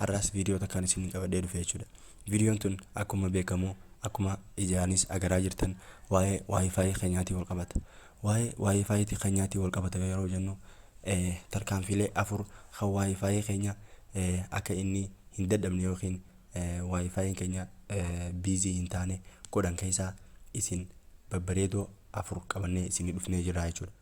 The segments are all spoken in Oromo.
Har'aas viidiyoo takkaan isinii qabadhee dhufe jechuudha. Viidiyoon tun akkuma beekamu akkuma ijaanis agaraa jirtan waa'ee wifi keenyaatii wal qabata. Waa'ee wifi ti keenyaatii wal qabata yeroo jennu eh, tarkaanfiilee afur kan wifi keenya eh, akka inni hin dadhabne yookiin eh, wifi'n keenya eh, busy hin taane godhan keessaa isin babbareedoo afur qabannee isinii dhufnee jirra jechuudha.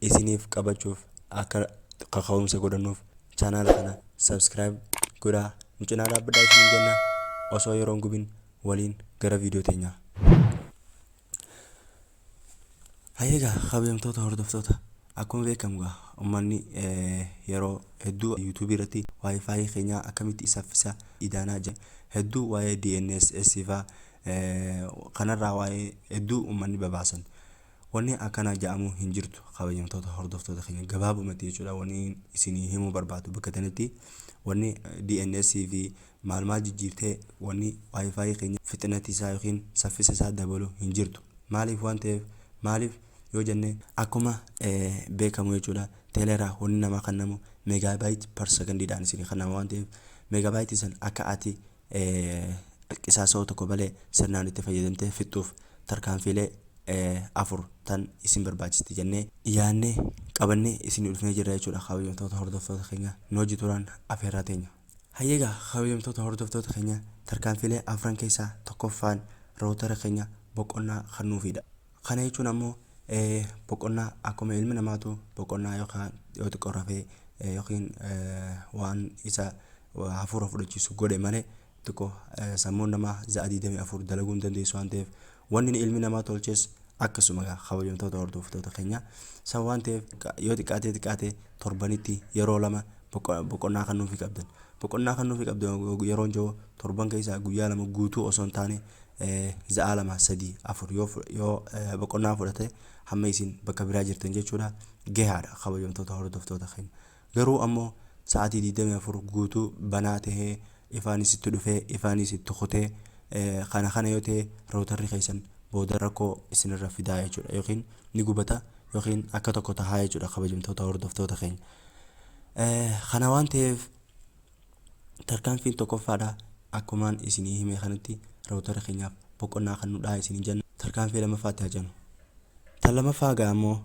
isiniif qabachuuf akka kaka'umsa godhannuuf channel kana subscribe godhaa nu cinaa dhaabbadhaa isiniin jenna osoo yeroo hin gubin waliin gara viidiyoo teenyaa. Hayyeegaa kabajamtoota hordoftoota akkuma beekamu gaa ummanni yeroo hedduu yuutuubii irratti waa'ee faayii keenyaa akkamitti saffisa idaanaa jira hedduu waa'ee DNSS faa kanarraa waa'ee hedduu ummanni babaasan. Wani akana ja'amu hin jirtu kabajamtoota hordoftoota keenya gabaabumatti jechuudha wani isinii himuu barbaadu bakka tanitti wani DNS fi maal maal jijjiirtee wani wifi keenya fixinati isaa yookiin saffisa isaa dabalu hin jirtu maaliif waan ta'eef maaliif yoo jenne akkuma beekamu jechuudha teeleeraa wani namaa kannamu megabyte per second dhaan isinii kannama waan ta'eef megabyte san akka ati qisaasa'uu tokko malee sirnaan itti fayyadamtee fixxuuf tarkaanfiilee afur tan isin barbaachisti jennee yaannee qabannee isinii dhufnee jirra jechuudha kabajamtoota hordoftoota keenya nu wajji turaan afeerraa teenya. Hayyee egaa kabajamtoota hordoftoota keenya tarkaanfiilee afran keessaa tokkoffaan rootara keenya boqonnaa kan nuufiidha. Kana jechuun ammoo boqonnaa akkuma ilmi namaatu boqonnaa yookaan yoo xiqqoo rafee yookiin waan isa hafuura fudhachiisu godhe malee xiqqoo sammuun namaa za'a 24 dalaguu hin dandeessu waan ta'eef wanni ilmi namaa tolches akkasuma kabajamtoota hordoftoota keenya san waan ta'eef yoo xiqqaatee xiqqaatee torbanitti yeroo lama boqonnaa kan nuufi qabdan Boqonnaa kannuufii qabda yeroon jiru torban keessaa guyyaa lama guutuu osoo hin taane za'aa lama sadii afur yoo yoo boqonnaa fudhate hamma isin bakka biraa jirtan jechuudha gahaadha kabajamtoota hordoftoota keenya garuu ammoo sa'aatii 24 guutuu banaa tahee ifaanis itti dhufee ifaanis itti kutee kana kana yoo ta'e rootarri keessan booda rakkoo isinirra fidaa jechuudha yookiin ni gubata yookiin akka tokko tahaa jechuudha kabajamtoota hordoftoota keenya Kana waan ta'eef tarkaanfiin tokkoffaadha akkumaan isinii himee kanatti rawutara keenyaaf boqonnaa kan nudhaa isiniin jenna tarkaanfii lamaffaatti haa jennu. Tan lamaffaa gaa ammoo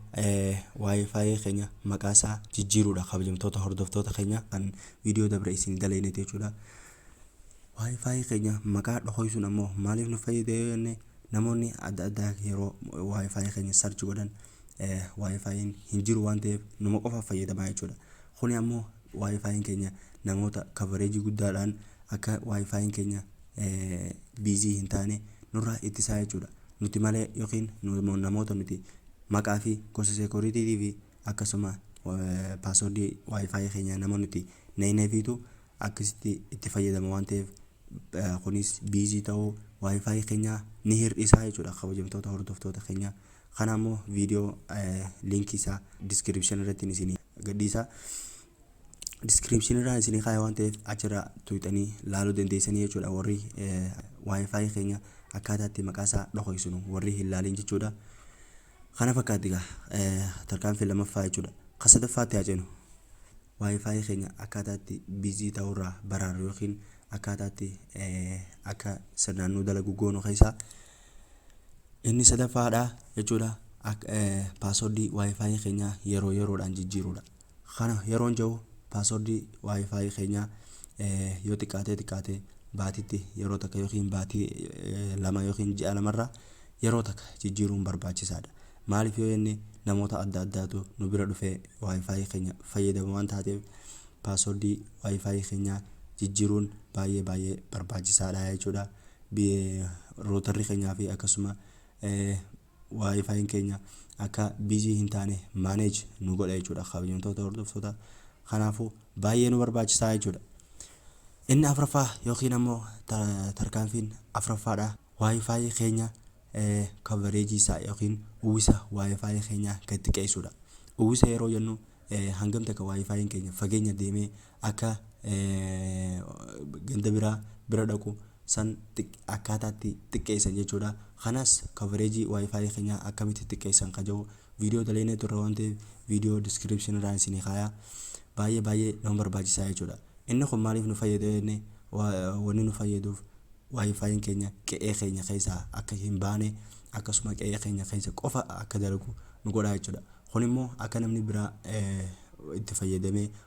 waayifaayi keenya maqaa isaa jijjiiruudha kabajamtoota hordoftoota keenya kan viidiyoo dabre isinii daleeyneeti jechuudha. Waayifaayi keenya maqaa dhokoysuun ammoo maaliif nu fayyada yoo jenne namoonni adda addaa yeroo waayifaayi keenya sarchi godhan wifi'n hin jiru waan ta'eef numa qofaaf fayyadamaa jechuudha. Kuni ammoo wifi'n keenya namoota coverage guddaadhaan akka wifi'n keenya busy hin taane nurraa ittisaa jechuudha. Nuti malee yookiin namoota nuti maqaa fi gosa security tiif akkasuma password wifi keenya nama nuti hin eegneefiitu akkasitti itti fayyadama waan ta'eef kunis busy ta'uu wifi keenyaa ni hir'isa jechuudha kabajamtoota hordoftoota keenyaa. Kana ammoo video link isaa description irratti isinii gadhiisa. Description irraa isinii kaaya waan ta'eef achirraa tuuxanii laaluu dandeessanii jechuudha warri wifi keenya akkaataa itti maqaa isaa dhokoysinu warri hin laalin jechuudha. Kana fakkaatti egaa tarkaanfii lamaffaa jechuudha. Kan sadaffaatti haa ceenu. Wifi keenya akkaataa itti busy ta'urraa baraarru yookiin akkaataa itti akka sirnaan nu dalagu goonu keessaa Inni sadaffaadha jechuudha paaswordii waayifaayi keenya yeroo yeroodhaan jijjiiruudha. Kana yeroon jedhu paaswordii waayifaayi keenya yoo xiqqaatee xiqqaatee baatitti yeroo takka yookiin baatii lama yookiin ji'a lamarraa yeroo takka jijjiiruun barbaachisaadha. Maaliif yoo jenne namoota adda addaatu nu bira dhufee waayifaayi keenya fayyadama waan taateef paaswordii waayifaayi keenya jijjiiruun baay'ee baay'ee barbaachisaadha jechuudha. rootarri keenyaa fi akkasuma waayifaayin keenya akka bizii hin taane maaneej nu godha jechuudha kabajamtoota hordoftoota kanaafuu baay'ee nu barbaachisaa jechuudha. Inni afraffaa yookiin ammoo tarkaanfiin afraffaadha waayifaayii keenya kavareejii isaa yookiin uwwisa waayifaayii keenya gad xiqqeessuudha. Uwwisa yeroo jennu hangam takka waayifaayiin keenya fageenya deemee akka ganda biraa bira dhaqu san akkaataatti xiqqeessan jechuudha. Kanas coverage wifi keenyaa akkamitti xiqqeessan ka jedhu viidiyoo dalaynee turre waan ta'eef viidiyoo description irraa isinii kaayaa baay'ee baay'ee nama barbaachisaa jechuudha. Inni kun maaliif nu fayyada jenne wanni nu fayyaduuf wifi keenya qe'ee keenya keessaa akka hin baane akkasuma qe'ee keenya keessa qofa akka dalagu nu godha jechuudha. Kun immoo akka namni biraa itti fayyadamee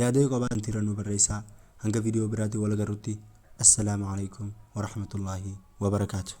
Yaada yoo qabaan tiira nu barreessaa hanga video biraatiin wal agarrutti assalaamu alaikum warahmatullaahi wabarakaatu.